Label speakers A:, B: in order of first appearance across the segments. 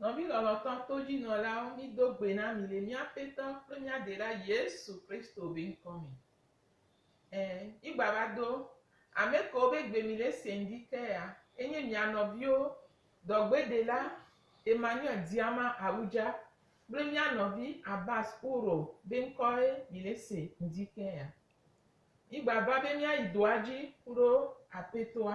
A: Nɔvi lɔlɔ̃tɔ todzinɔlawo, mido gbe na mi le mía Aƒetɔ kple mía Ɖela Yesu Kristo be ŋkɔ me. Ẽ, mígbava do ame kewo be gbe mi le se ŋdi ke ya, enye mia nɔviwo, dɔgbedela Emmanuel Diama Awudja kple mía nɔvi Abbas Ouro be ŋkɔe mi le se ŋdi ke ya. Mígbava be míayi doa dzi kuɖo Aƒetɔa.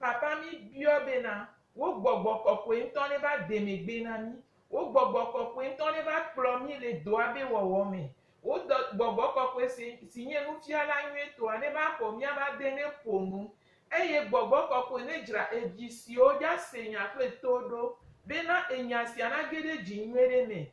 A: Papa mí biɔ be na wo gbɔgbɔ kɔkɔe ŋtɔ ne va demɛ gbe na mí. Wo gbɔgbɔ kɔkɔe ŋtɔ ne va kplɔ mí le dɔa be wɔwɔ me. Wo gbɔgbɔ kɔkɔe si nye nufiala nyuietɔa ne va xɔ mía va de ne ƒo nu. Eye gbɔgbɔ kɔkɔe ne dzra evi siwo dza se nya kple to ɖo be na enya sia na ge ɖe dzi nyuiɖe me.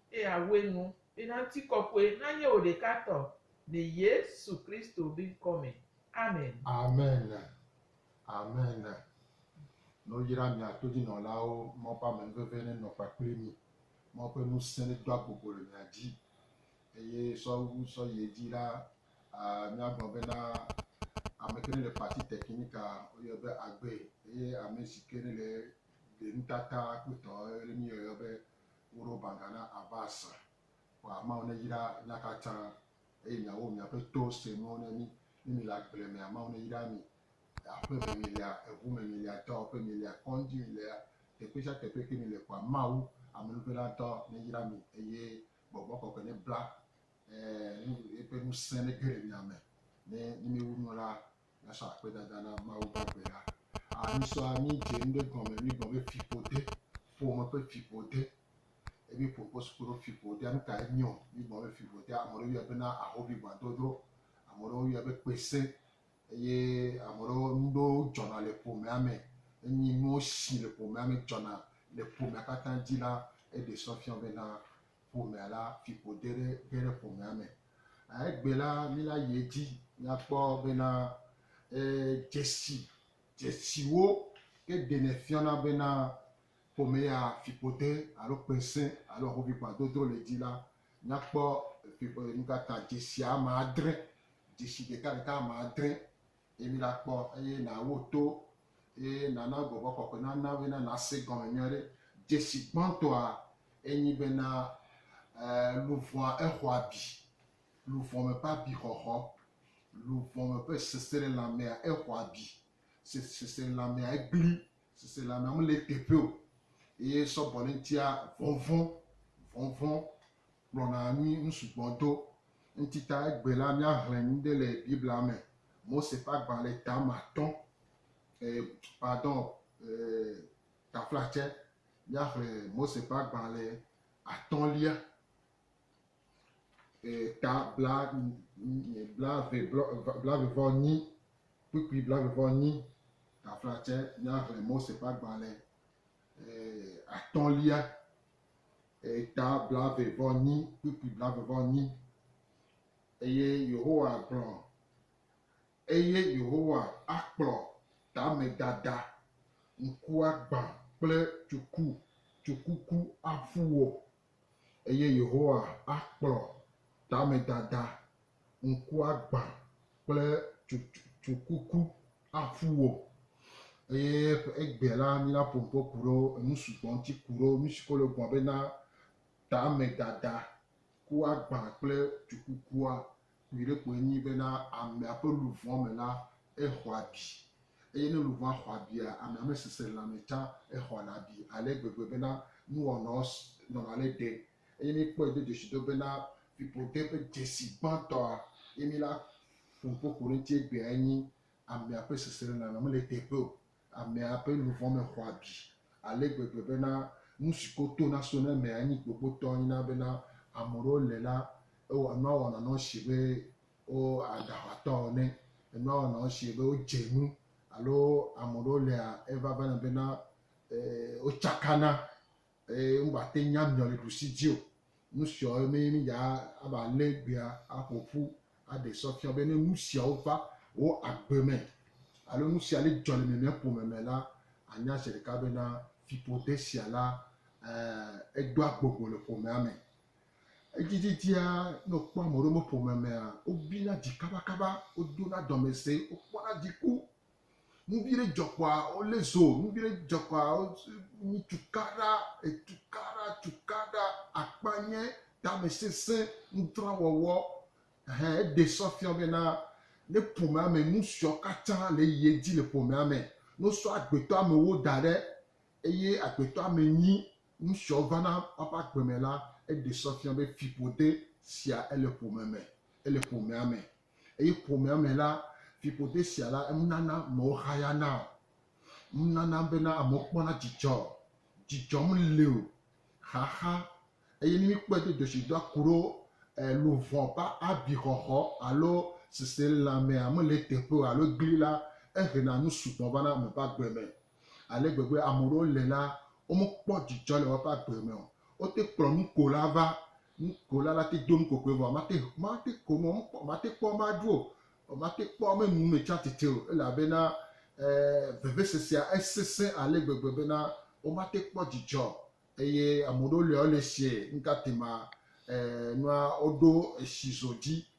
A: Eye awɔe nu be na ŋutikɔkɔe nanye wò ɖeka tɔ le Yesu Kristo be ŋkɔ me. Amen. Amen.
B: Amen. No yra mia todinɔlawo, Mawu ƒe amenuveve nenɔ kpakple mi, Mawu ƒe ŋusẽ nedo agbogbo le mia dzi, eye sɔ wu sɔ yi edzi la, aa, míagblɔ bena, Ame ke nele parti technique a, woyɔe be agbee, eye ame si ke nele ɖe nutata kpɔtɔ, eye míyɔe be Woɖo baŋga na Abba Assa, Xɔ ameawo neyra mía katã, eye miawo miaƒe to se nuwo ne mí, ne míle agble me ameawo neyra mí, aƒe me mílea, eŋu me mílea, dɔwɔƒe mílea, kɔndzi mílea, teƒe sia teƒe ke míle kɔa, Mawu, Amenuvelatɔ, neyra mí, eye Gbɔgbɔ Kɔkɔe nebla eƒe ŋusẽ nege ɖe mía me, ne míewu nu la, Míasɔ akpedada na Mawu ƒe gbe la, aa mísɔa mídze nu ɖe gɔme, míegblɔ be fiƒode, ƒome ƒe fiƒode, ye míeƒo kpo suku ɖo fiƒodea nu kae nye o. Míegblɔ be fiƒodea, ame aɖewo yɔe bena ahovi gbadɔdrɔ, ame aɖewo yɔe be kpesẽ eye ame aɖewo nu ɖewo dzɔna le ƒomea me. Enyi nuwo si le ƒomea me dzɔna le ƒomea katã dzi la, eɖe srɔ̃ fia bena ƒomea la, fiƒode ɖe ge ɖe ƒomea me. Egbe la, míla yi edzi míakpɔ bena dzesi dzesiwo ke ɖenɛ fiana bena ƒome ya fiƒode alo kpesẽ alo ahoʋiʋã dodro le edzi la, míakpɔ nu ka ta dzesi ame adre, dzesi ɖekaɖeka ame adre Eye míɖakpɔ, eye nàwo to, eye nàna gbɔgbɔ kɔkɔe nana wò bena nàse gɔme nyuie aɖe. Dzesi gbãtɔa enyi bena, e, luʋɔa exɔ abi. Luʋɔ me ƒe abixɔxɔ, luʋɔ me ƒe seselelãmea exɔ abi. Se, seselelãmea egblẽ, seselelãmea mele eteƒe o. Eye sɔbɔleŋtia, vɔvɔ̃, vɔvɔ̃, kplɔna anyi nu sugbɔ do. Ŋutita egbe la, míaxlẽ nu ɖe le Biblia me. Mose ƒe agbalẽ tame atɔ̃, e, pardon, e, taflatse. Míaxlẽ Mose ƒe agbalẽ atɔ̃lia, e, ta bla, bla ve blɔ, bla ve vɔ nyi, kpukpui bla ve vɔ nyi, taflatse. Míaxlẽ Mose ƒe agbalẽ atɔ̃lia, eta blaeve-vɔ-enyi, kpukpui blaeve-vɔ-enyi. Eye Yehowa gblɔ, Eye Yehowa akplɔ tamedada, ŋkuagbã kple tsuku, tsukuku aƒu wò. eye Yehowa akplɔ tamedada, ŋkuagbã kple tsukuku aƒu wò. Eye ƒe egbe la, míla ƒo ŋkɔ ku ɖe enu sugbɔ ŋuti ku ɖe nu si ke wole gblɔ bena tamedada, ŋkuagbã kple tsukukua Nyuiɖe koe enye bena amea ƒe luʋɔ me la, exɔ abi. Eye ne luʋɔa xɔ abia, amea mesesẽ lãme tsã, exɔna abi ale gbegbe bena nuwɔnawo nɔna le ɖe. Eye míkpɔe do dzesidɔ bena fiƒode ƒe dzesi gbãtɔa, eye mílé aƒo nuƒo ƒo ɖe eŋuti egbeae nye, amea ƒe seselelãme mele teƒe o, Amea ƒe nu vɔ̃ me xɔ abi ale gbegbe bena nu si ko tona sona eme anyi gbogbotɔ nyina bena ame ɖewo le la, ewɔ nua wɔna nɔ sie be wo aɖe aʋatɔ ene, enua wɔna nɔ sie be wo dze nu alo ame ɖewo lea evavana bena e wotsakana. Eye wo gba te nya miɔ le ɖusi dzi o. Nu siɔ ye me mi dza a va le gbea a ƒo ƒu a ɖe sɔ fiɔ be ne nu siawo va wo agbe me alo nu sia li dzɔ le mimia ƒome me la, a nya zeɖeka be na fiƒode sia la e e doa gbogbo le ƒomea me. Edzidzidzia ne wo kpɔ amewo ɖe woƒe ƒome mea, wo bina dzi kabakaba, wo dona dɔmese, wo kpɔna dziku. Nuvie ɖe dzɔ kpoa wolé zo, nuvie ɖe dzɔ kpoa wonyi tukaɖa, etukaɖa, tukaɖa, akpanyɛ, tamɛsesẽ, nudrɔwɔwɔ. Ɛhɛɛ, eɖe sɔ fiɔ bena ne ƒomea me nu siɔ katã le yi edzi le ƒomea me, ne wosɔ agbetɔ amewo da ɖe eye agbetɔ ame nyi nu siɔ vana woaƒe agbe me la, eɖe sɔ fiɔ be fiƒode sia ele ƒome me, ele ƒomea me. Eye ƒomea me la, fiƒode sia la, enunana amewo hayana o. Enunana bena amewo kpɔna dzidzɔ. Dzidzɔ meli o. Xaxa. Eye ne míkpɔe do dzɔsidɔa ku ɖo luʋɔ ƒe abixɔxɔ alo seselãmea mele eteƒe o alo egli la, ehena nu sugbɔ vana ame ƒe agbe me. Ale gbegbe ame ɖewo le la, womekpɔ dzidzɔ le woƒe agbe me o. Wote kplɔ nukola va, nukola la te do nukokoe vɔ mate mate ko nu o, mate kpɔ ame aɖu o, mate kpɔ ame nu me tsi atsitre o, elabena e, vevesesea esesẽ ale gbegbe bena womate kpɔ dzidzɔ o. Eye ame ɖewo le wole sie, nukatema e, nua woɖo esi zo dzi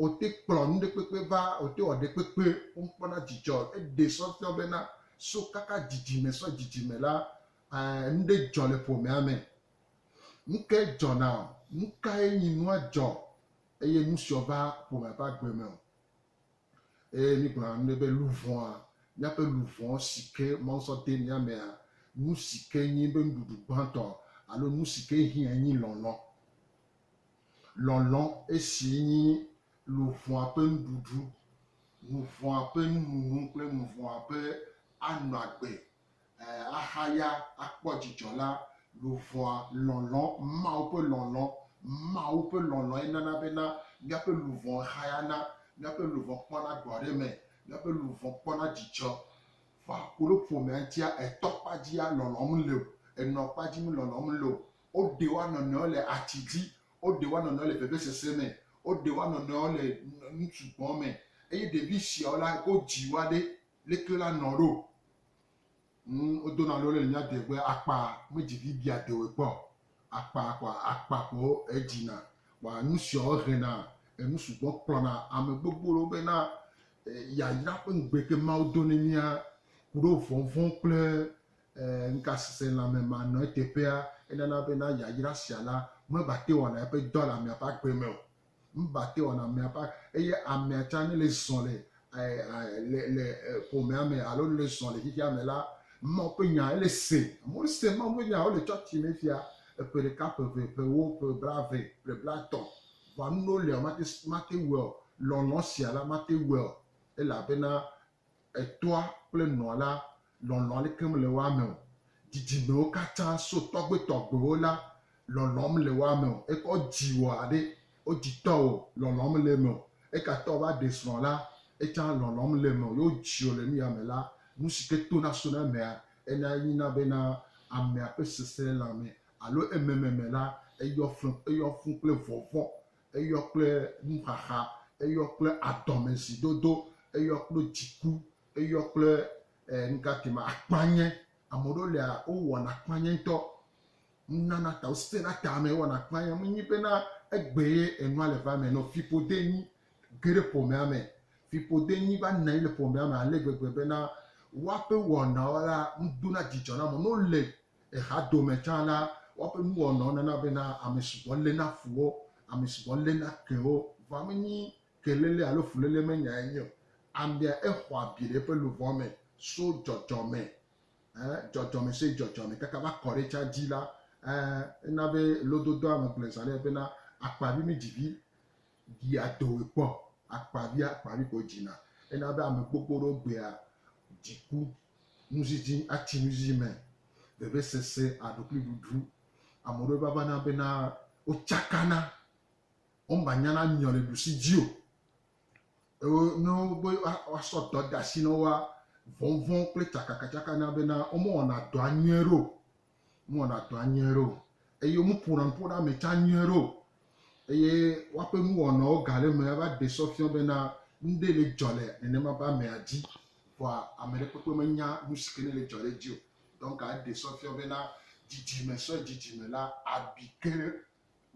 B: Wote kplɔ nuɖekpekpe va, wote wɔ ɖekpekpe wokpɔna dzidzɔ. Eɖe sɔ fiɔ bena so kaka dzidzime sɔ dzidzime la, ẽ, nuɖe dzɔ le ƒomea me. Nukae dzɔna o? Nukae nyi nua dzɔ eye nusiɔ va ƒomea ƒe agbe me o? Eye mígblɔna nuɖe be luvɔa, míaƒe luvɔ sike Mawu sɔ de mía mea, nusike nyi be nuɖuɖu gbãtɔ alo nusike hiã nyi lɔlɔ. Lɔlɔ̃, esi nyi luʋɔa ƒe nuɖuɖu, nuvɔ̃a ƒe nununu kple nuvɔ̃a ƒe anɔ agbe, ẽ, ahaya, akpɔ dzidzɔ la, luʋɔa, lɔlɔ̃, Mawu ƒe lɔlɔ̃, Mawu ƒe lɔlɔ̃e nana bena míaƒe luʋɔ hayana, míaƒe luʋɔ kpɔna gbɔɖeme, míaƒe luʋɔ kpɔna dzidzɔ. Vɔa, koɖo ƒomea ŋutia, ètɔ kpa dzia, lɔlɔ̃m le o, ènɔ kpa dzim, lɔlɔ̃m le o, Woɖe woa nɔnɔewo le ati dzi, woɖe woa nɔnɔewo le vevesese me, woɖe woa nɔnɔewo le ŋutsu gbɔ̃ me, eye ɖevi siawo la, wodzi woa ɖe leke wola nɔ ɖo. Ŋu wodona lo le mía de be akpa medzi vi bia dewoe kpɔ o. Akpa kɔa akpa ko edzina. Kpɔa nu siawo hena enu sugbɔ kplɔna ame gbogbo ɖo bena yayra ƒe ŋugbe ke Mawu do ne mía ku ɖo vɔvɔ̃ kple Ɛ̃, ŋutasesẽlãme ma nɔ eteƒea, enana be na yayra sia la mebate wɔna eƒe dɔ le amea ƒe agbe me o. Mebate wɔna amea ƒe, eye amea tsã ne le zɔ le, ɛ, ɛ, le, le ƒomea me alo ne le zɔ le xexea me la, Mawu ƒe nya ele se. Amewo le se Mawu ƒe nya wole tsɔtsi me fia eƒe ɖeka, ƒe eve, ƒe ewo, ƒe blaeve, ƒe blaetɔ̃. Vɔa nuɖewo lia, womate, mate wɔe o. Lɔlɔ̃ sia la, mate wɔe o, elabena Etɔa kple nɔa la lɔlɔ̃a li keŋ le woa me o. Dzidzimewo katã so tɔgbuitɔgbuiwo la lɔlɔ̃m le woa me o. Ekɔ dziwò aɖe, wo dzitɔwo lɔlɔ̃m le eme o. Egatɔ va ɖe srɔ̃ la, etsã lɔlɔ̃m le eme o. Yewo dziwò le nuyame la, nu si ke tona so na emea, ena nyina be na amea ƒe seselelãme alo emememe la, eyɔ fũ, eyɔ fũ kple vɔvɔ̃ Eyɔ kple nuxaxa, eyɔ kple adɔmezidodo, eyɔ kple dziku, eyɔ kple e nuka ke ma akpanye. Ame ɖewo lia wowɔna akpanye ŋutɔ. Nunana ta wosena tame wɔna akpanye. Menye bena egbe ye enua le va eme ene o. Fiƒode enyi ge ɖe ƒomea me. Fiƒode enyi va nɔ anyi le ƒomea me ale gbegbe bena woaƒe wɔnawo la nu dona dzidzɔ na ame. Ne wole Axadome tsã la, woaƒe nuwɔnawo nana bena ame sugbɔ léna fu wo, ame sugbɔ léna ke wo. Vɔ menye keléle alo fuléle me nyae nye o. Amea exɔ abi le eƒe luʋɔ me so dzɔdzɔme, ẽ, dzɔdzɔme so dzɔdzɔme kaka va kɔ ɖe etsã dzi la, ẽ, ena be lododoa me gblɔe zã nɛ bena, Akpa vi mi dzi vi. Ɖia dɔwòe kpɔ, akpavi akpavi ko dzina. Ena be ame gbogbo ɖewo gbea dziku, nudzidzi atsi nudzidzi me, vevesese, aɖukliɖuɖu. Ame ɖewo va vana bena wotsakana, womanyana nyɔ le ɖusi dzi o. Eo ne wobe woasɔ dɔ de asi na woa, vɔvɔ̃ kple tsakakatsaka na bena womewɔna dɔa nyuie ɖe o. Womewɔna dɔa nyuie ɖe o. Eye womeƒona nu ƒona ame tsã nyuie ɖe o. Eye woaƒe nuwɔnawo ga ɖe eme ava ɖe sɔ fiɔ bena nuɖe le dzɔ le nenema be amea dzi. Vɔa ame ɖe kpekpe menya nu si ke ne le dzɔ ɖe edzi o. Donc eɖe sɔ fiɔ bena dzidzime sɔe dzidzime la abi ke ɖe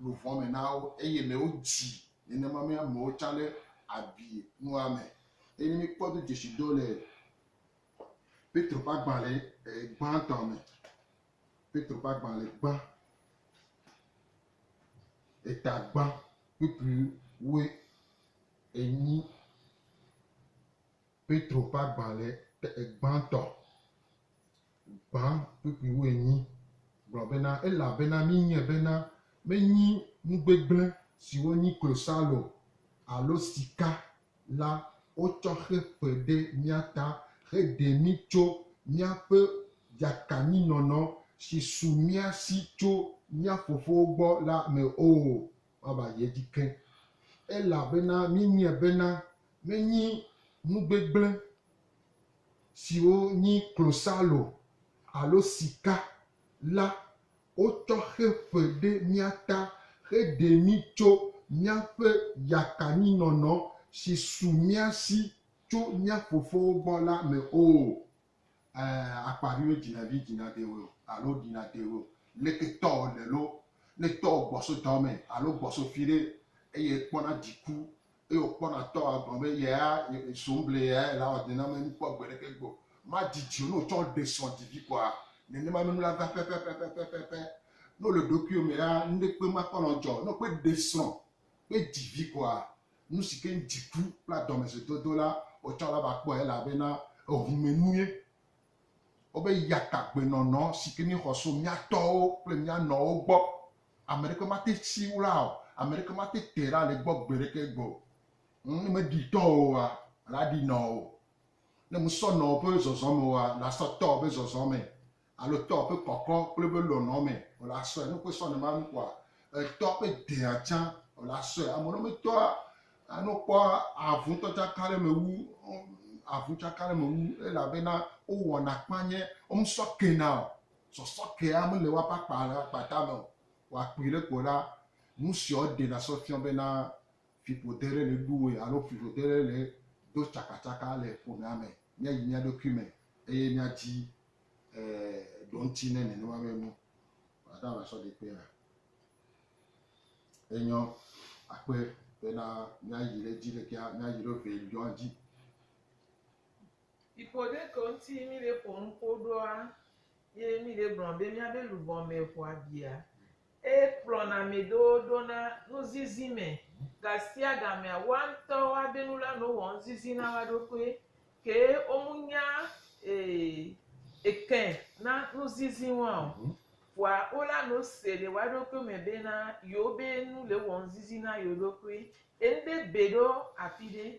B: luʋɔ me na wo. Eye le wo dzi nenema me amewo tsã ɖe abi nua me. Eye ne míkpɔ do dzesi do le Petro ƒe agbalẽ gbãtɔ me. Petro ƒe agbalẽ gbã. Eta gbã kpukpui woe enyi. Petro ƒe agbalẽ gbãtɔ gbã kpukpui woe nyi. Gblɔ bena, elabena minyae bena menyi nu gbegblẽ siwo nyi klosalo alo sika la, wotsɔ xe ƒe ɖe mía ta heɖe mí tso míaƒe yakanyinɔnɔ si su mía si tso mía fofowo gbɔ la me o. Woava yi edzi ke, elabena míenyae bena menye nu gbegblẽ siwo nye klosalo alo sika la Wotsɔ xe fe ɖe mía ta heɖe mí tso míaƒe yakanyinɔnɔ si su mía si tso mía fofowo gbɔ la me o. Ẽ, akpaviwo dzina vi dzinatewoe o, alo ɖinatewoe o. Leke tɔwo le loo, ne tɔwo gbɔ so dɔ me alo gbɔ so fiɖe, eye ekpɔna dziku eye wòkpɔna tɔ agblɔ be yea zoŋble yae la wɔ nenemae nu kpɔ gbeɖeke gbe o. Madidi o ne wòtsɔ ɖe srɔ̃ divi kɔa? Nenema me nula va pɛpɛpɛpɛpɛpɛ. Ne wòle ɖokuiwò me la, nuɖekpe makpɔ nɔ dzɔ o. Ne wòkpe ɖe srɔ̃ kpe divi kɔa, nusi ke ŋu dziku kple adɔmedzoedodo la wòtsɔ la va kpɔe elabena ehumɛnue. Wobe yatagbenɔnɔ si ke míexɔ so mía tɔwo kple mía nɔwo gbɔ Ame ɖeke mate tsi wla o, ame ɖeke mate tɛ ɖa le egbɔ gbe ɖeke gbɔ o. Ŋ, ne meɖi tɔ oa, la ɖi nɔ o. Ne mesɔ nɔ woƒe zɔzɔ me oa, la sɔ tɔ woƒe zɔzɔ me, alo tɔ woƒe kɔkɔ kple woƒe lɔlɔ me o, la sɔe. Ne wokpɔe sɔ nɔ ma nu kɔa, etɔ woƒe dea tsã o, la sɔe. Ame ɖewo me tɔa, ne wokpɔ avu ŋutɔ tsaka ɖe me wu, avu tsaka ɖe me wu, elabena wowɔna kpanye, womesɔ kena o. Sɔsɔ kea mele woaƒe akpa ɖe akpa tame o. Wòakpui ɖe kpo ɖa. Nu siɔ ɖena sɔ fiɔ bena fiƒode ɖe le ɖu woe alo fiƒode ɖe le do tsakatsaka le ƒomea me. Míayi mía ɖokui me eye míadi ɖoŋti ne nenema be nu ɖaɖa la sɔ ɖi kpe ɖa. Enyɔ akpe bena míayi ɖe edzi ɖekea míayi ɖo ʋe yɔa dzi. Yi
A: ƒoɖekɔ ŋti yi mi ɖe ƒo nuƒo ɖoa, yi mi ɖe gblɔ be mia be luvɔ me ŋu abia. Eye kplɔna ame ɖewo ɖo na nuzizi me. Gasia gamea, woa ŋtɔ woa be nula no wɔ nuzizi na woa ɖokui. Ke wo mu nya eke na nuzizi woa o. Vɔa wo la no se le woa ɖokui me be na yewo be nu le wɔ nuzizi na yewo ɖokui. Ye ŋɖe be ɖo afi ɖe.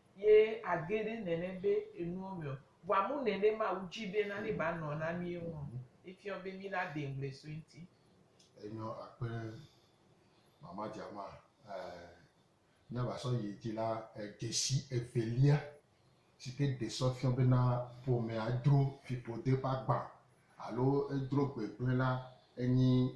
A: ye age ɖe nɛnɛ be enuɔ mɛɔ, vɔa mu nɛnɛ Mawu dji be nane ba nɔ na mie ŋuɔ, efiɔ be mi la de ŋgble so eŋti. Enyɔ
B: akpe mama jama ɛɛ mia va sɔ yi dji la, edjesi evelia sike de sɔ fiɔ be na ƒomea dro fiƒode ƒe agba alo edro gbegble la enyi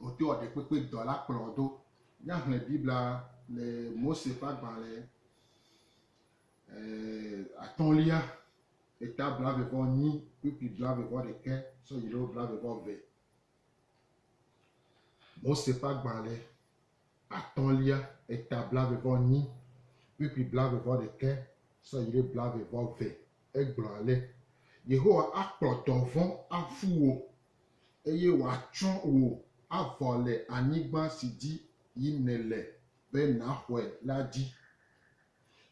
B: Wodoa ɖekpekpe dɔ la kplɔ do. Ne ahlẽ Biblia le Mose ƒe agbalẽ atɔ̃lia, eta blaeve-vɔ-enyi kpukpui blaeve-vɔ-ɖekɛ sɔ yi ɖe blaeve-vɔ-eve. Mose ƒe agbalẽ. atɔ̃lia eta blaeve-vɔ-enyi kpukpui blaeve-vɔ-ɖekɛ sɔ yi ɖe blaeve-vɔ-ve. Egblɔ ale, Yehowa akplɔ dɔvɔ̃ aƒu wò, eye wòatsɔ wò avɔ le anyigba si dzi yim nèle be nàxɔe la dzi.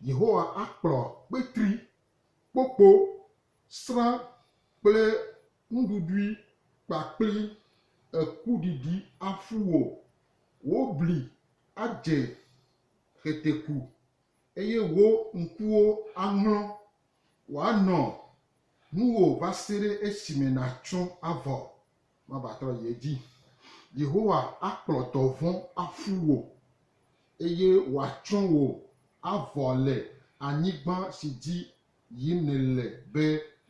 B: Yehowa akplɔ kpetri, kpokpo, srã kple nuɖuɖui kpakpli ekuɖiɖi aƒu wò, wò bli adze xeteku, eye wò ŋkuwo aŋlɔ, wòanɔ nuwò va se ɖe esime nàtso avɔ, mavatrɔ yi edzi. Yehowa akplɔ dɔvɔ̃ aƒu wò, eye wòatsrɔ̃ wò avɔ le anyigba si dzi yi nèle be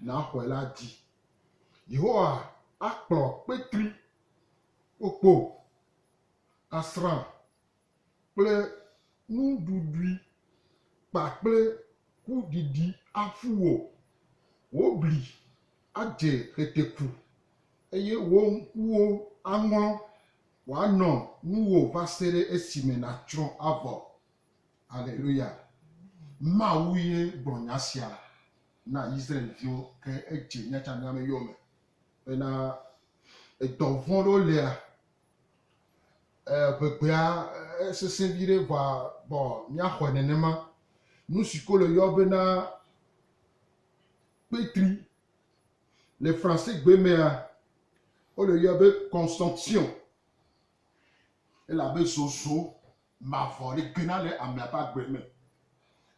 B: nàxɔe la dzi. Yehowa akplɔ kpetri kpokpo, asrã kple nuɖuɖui kpakple kuɖiɖi aƒu wò. Wò bli adze heteku, eye wò ŋkuwo aŋlɔ, wòanɔ nuwò va se ɖe esime nàtsrɔ̃ avɔ. Aleluya! Mawu ye gblɔ nya sia na Yisraɛliviwo ke edze míatsã míame yome bena edɔ vɔ̃ ɖewo lia, ŋegbea esesẽ viɖe vɔa bɔ míaxɔe nenema. Nu si ko le yɔ bena kpetri le Fransegbe mea, wole yɔ be consumption, elabe zozo mavɔ li gena le amea ƒe agbe me,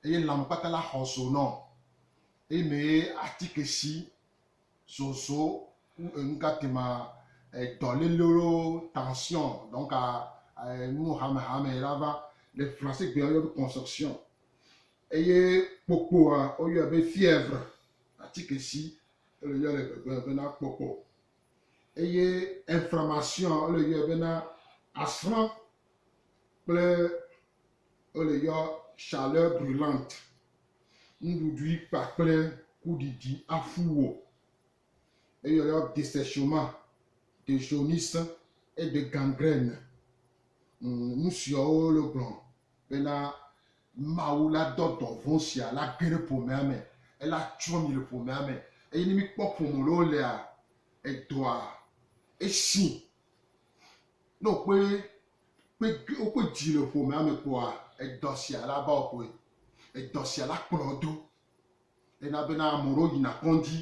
B: eye lãme kpata la xɔ zo nɔ eyi me ye atike si zozo ku enu ka tema dɔ lele lo tension donc a nu hame hame la va le français gbe woyɔ be conception eye kpokpoa woyɔe be fièvre atike si ele yɔ le gbegbe bena kpokpo. Eye inflammation wole yɔe bena asrã kple wole yɔ chaleur brulante. Nuɖuɖu yi kpa kple kuɖiɖi aƒu wò. Eyi yɔ desechement, dejaunisse et de gangrène. Nusiawo wole gblɔ bena Mawu la dɔ dɔvɔ̃ sia la ge ɖe ƒomea me, ela tsrɔ̃ mi le ƒomea me. Eye ne míkpɔ ƒome lɔ lea, edɔa esi. Ne wokpe kpe wokpe dzi le ƒomea me kpoa, edɔ sia la va wɔƒe. Edɔ sia la kplɔ do. Ena bena ame ɖewo yina kɔndzi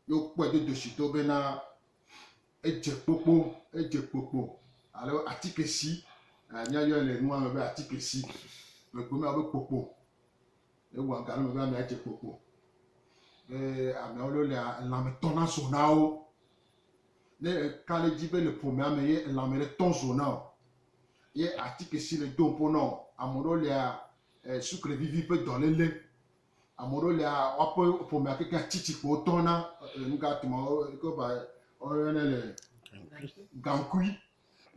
B: ye wokpɔe do doshito bena edze kpokpo, edze kpokpo alo atikesi, míayɔe le nua me be atikesi, gbegbe me abe kpokpo, ewɔ aga ɖe eme be amea dze kpokpo, be ameawo lɔ lea, elã me tɔ na zo na wo, ne eka ɖe edzi be le ƒomea me ye elã me ɖe tɔ zo na o, ye atikesi le do ŋpo na wo, ameɖewo lea, sukle vivi ƒe dɔlele, Ame ɖewo lia, woaƒe ƒomea kekeŋ tsi tsi ko wotɔ na e, nu ka tuma wo- ke ba woyɔnɛ le gaŋkui.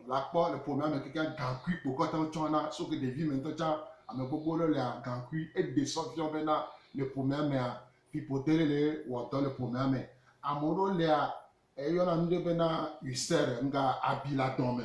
B: La kpɔ le ƒomea me kekeŋ gaŋkui ko kɔte wotsɔ na. So ke ɖevi me ŋutɔ tsã, ame gbogbo ɖewo lia gaŋkui. Eɖe sɔ fiɔ bena le ƒomea mea, fiƒode ɖe le wɔ dɔ le ƒomea me. Ame ɖewo lia, eyɔna nu ɖe bena ulcère, nuka abi le adɔme.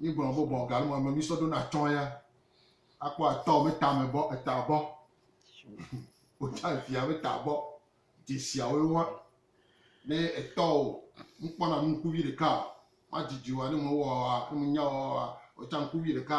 B: Mí gblɔ be bɔ galu mame mí sɔ ɖo na tsɔ ya. A kpɔ a tɔ me ta me bɔ eta bɔ. O tsa efi a me ta bɔ. Dze si a wo wa. Ne etɔ o, ŋu kpɔ na nukuvi ɖeka. Ma dzi dzi wa ne me wɔ wa, ne me nya wɔ wa, o tsa nukuvi ɖeka.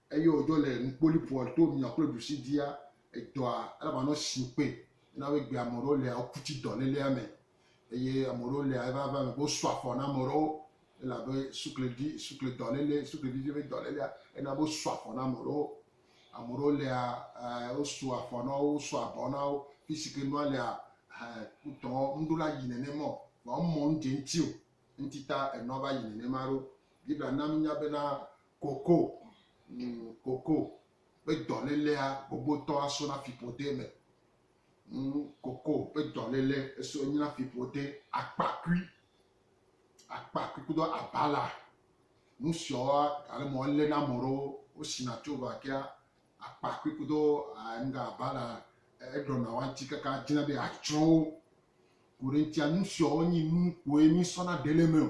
B: Eye wòdzo le nukpolipoa to mia kple ɖusi dia edɔa, elabena nɔ sin kpe. Ena be gbea ame ɖewo lia, woku tsi dɔ lélea me. Eye ame ɖewo lia, eva va eme be wosu afɔ na ame ɖewo, elabe suklevi, sukle dɔ lélé, suklevivi be dɔ lélea, ena be wosu afɔ na ame ɖewo. Ame ɖewo lia, e, wosu afɔ na wo, wosu abɔ na wo. Fisi ke nua lia, e, wotɔ ŋɖo la yi nenema o, vɔa womɔ ŋdze ŋti o. Ŋtita enua va yi nenema ɖo. Biblia na minya bena Koko, ŋ, koko, ƒe dɔlélea gbogbotɔ aso na fiƒode me. Ŋ, koko, ƒe dɔlélé eso enyi na fiƒode. Akpakui, akpakui kudo abala. Nu siawoa, ale me wolé na ame ɖewo, wosina tso vakea, akpakui kudo nuga abala, eɖɔna wanti kaka dzina be atsrɔ̃ wo. Ku ɖe eŋutia, nu siawo nyi nu koe mísɔna ɖe le eme o.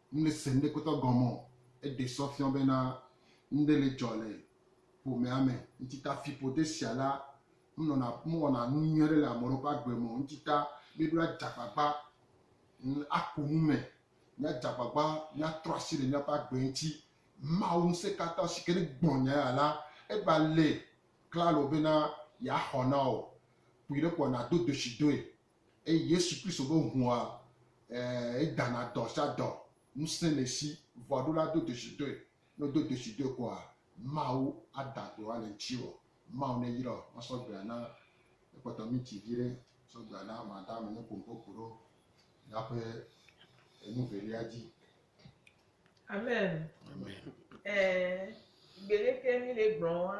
B: Ŋlese ŋɖe kpɔtɔ gɔme o. Eɖe sɔ fiɔ bena ŋɖe le dzɔ le ƒomea me. Ŋtita fiƒode sia la menɔna mewɔna nu nyui aɖe le ame ɖewo ƒe agbe me o. Ŋtita míeɖo adze agbagba aku nu me. Míadze agbagba míatrɔ asi le míaƒe agbe ŋuti. Mawu Ŋusẽkatãtɔ si ke ne gbɔ nya ya la, eva le klalo bena yeaxɔ na wò. Kpɔe ɖe kpɔ nàdo dzoshi doe Eye Yesu Kristo ƒe ŋua e dana dɔ sia dɔ, ŋusẽ le esi, ŋua ɖo la do dzesi doe, ne wodo dzesi doe koa, Mawu ada gbe wa le ŋtsiwò. Mawu ne yrɔ ma sɔ gbea na ekpɔtɔ minti viɖe sɔ gbea na ma da me ne kpompo ku ɖo ya ƒe enu velia dzi.
A: Amen. Amen. Ɛɛ, gbeɖe ke mi le gblɔ wa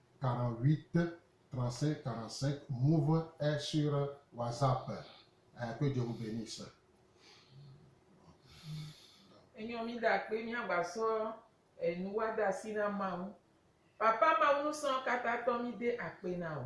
B: 48, 35, 45, Move est sur WhatsApp eh, que Dieu vous benisse.
A: Enyɔ mi da kpe mi agba sɔ enu wa da si na mawu. Papa mawu nusɔn kata tɔ mi de akpe na o.